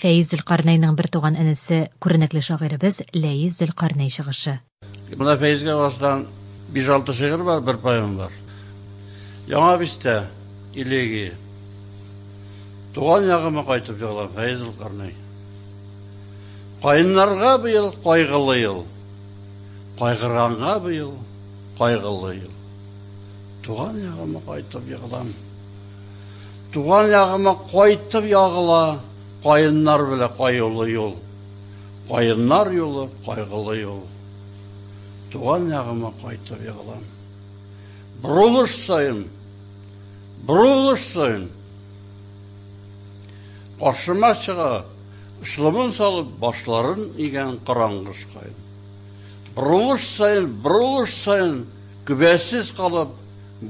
Фәиз Зөлкарнәйнең бертуган энесе, күренекле шагыйребез Ләис Зөлкарнәй чыгышы. Менә Фәизгә васдан 5-6 шигырь бар, бер поэма бар. Яңа бистә, Илеги. Туган ягыма кайтып җырлам, Фәиз Зөлкарнәй. Каеннарга быел кайгылы ел. Кайгырганга быел кайгылы ел. Туган ягыма кайтып җырлам. Туган ягыма кайтып ягыла Каеннар белә каюлы юл. Каеннар юлы, кайгылы юл. Туган ягыма кайтып ягылам. Борылыш саен, борылыш саен Каршыма чыга, ышлымын салып, башларын игән караңгыш каен. Борылыш саен, борылыш саен Көбәсез калып,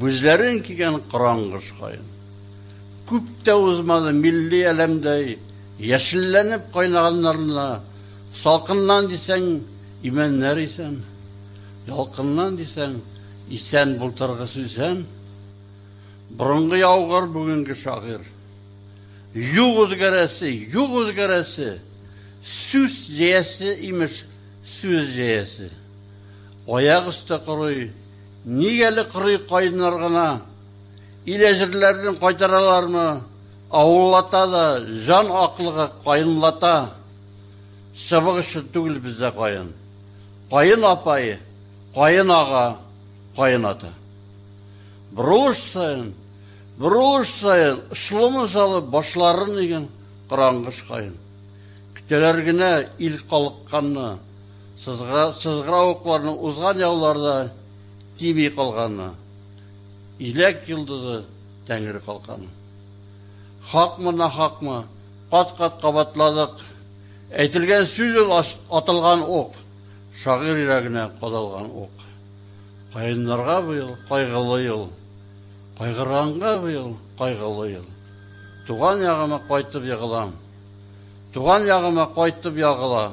Гүзләрен кигән караңгыш каен. Күп тә узмады, милли әләмдәй яшелләнеп кайнаганнарына, салкыннан дисәң, имәннәр исән, ялкыннан дисәң, исән былтыргы сүсән. Борынгы яугыр, бүгенге шагыйрь. Юк үзгәрәсе, юк үзгәрәсе, сүс җәясе, имеш, сүз җәясе. Аяк өсте корый. Ник әле корый каеннар гына? Илә җирләрен кайтаралармы? Авыллата да, җан аклыгы каенлата. Чыбык өчен түгел бездә каен. Каен апай, каен ага, каен ата. Борылыш саен, борылыш саен очлымын салып башларын иген карангыш каен. Көтәләр генә ил калыкканны. Сызгыра, сызгыравыкларның узган яуларда тими калганы, иләк йолдызы тәңре калканы. Хакмы нахакмы, кат-кат кабатладык. Әйтелгән сүз ул атылган ук, шагыйрь йөрәгенә кадалган ук. Каеннарга быел кайгылы ел, кайгырганга быел кайгылы ел. Туган ягыма кайтып егылам. Туган ягыма кайтып ягыла.